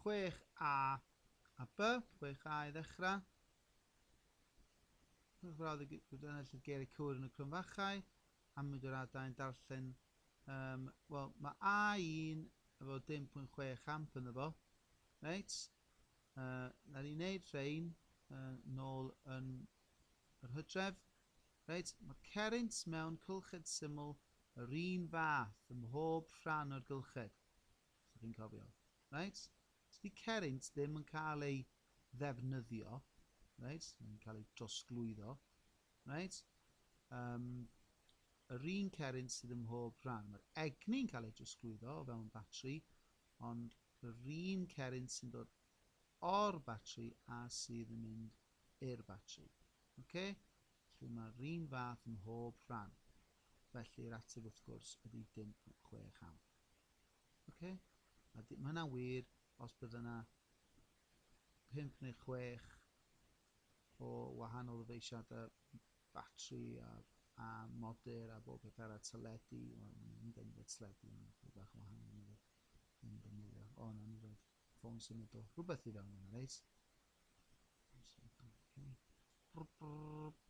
chwech A a B, chwech A i ddechrau. Rhowch frawd y enillydd geiriau cywir yn y crwn fachau, a mynd o'r adau yn darllen. Um, Wel, mae A1 efo 10.6 amp yn efo. Reit? Uh, na ni wneud rhain uh, nôl yn yr hydref. Reit, mae cerint mewn cylched syml yr un fath ym mhob rhan o'r gylched. Os dych chi'n cofio. Reit? Os di cerrynt ddim yn cael ei ddefnyddio, reit? Mae'n cael ei drosglwyddo, reit? Um, yr un cerrynt sydd ym mhob rhan. Mae'r egni'n cael ei drosglwyddo o fewn batri, ond yr un cerrynt sy'n dod o'r batri a sydd yn mynd i'r batri. Okay? Felly mae'r un fath ym mhob rhan. Felly'r ateb wrth gwrs ydy dim chwech amp. Oce? A di- ma' hynna'n wir os bydde 'na pump neu chwech o wahanol ddyfeisiadau batri a, a modur a bob peth arall, teledu, wel, mae hyn dyn ni'n teledu, mae'n rhywbeth bach yn wahanol yn ddefnyddio. Yn ddefnyddio. O, na, ni roed ffôn symudol. Rhywbeth i fewn yna, reit? Ffôn symudol, oce. Okay.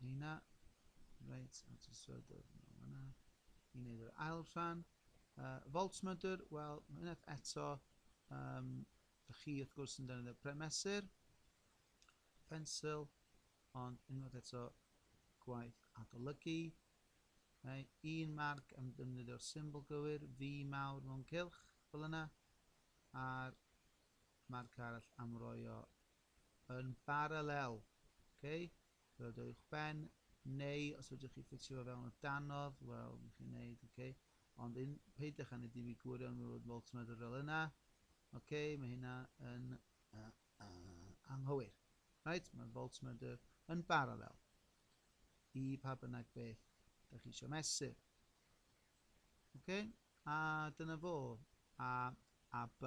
Nina, Reit, a ti isio dod yn ôl fan'na i wneud yr ail rhan. Uh, voltmeter, wel, mae unwaith eto, um, da chi wrth gwrs yn defnyddio premesur, pensil, ond unwaith eto gwaith adolygu. Okay. Un marc am defnyddio'r symbol gywir, fi mawr mewn cylch, fel yna, a'r marc arall am roio yn baralel. Okay? Fel dod i'ch ben, neu os ydych chi ffitio fo fewn o danodd, wel, mi chi'n neud, okay? Ond un, peidiwch â neud i fi gwirion mi fod voltmeter fel yna. Okay, mae hynna yn uh, uh, anghywir. Right, mae'r voltmeter yn baralel i pa bynnag beth da chi eisiau mesur. Okay? A dyna fo, A a B.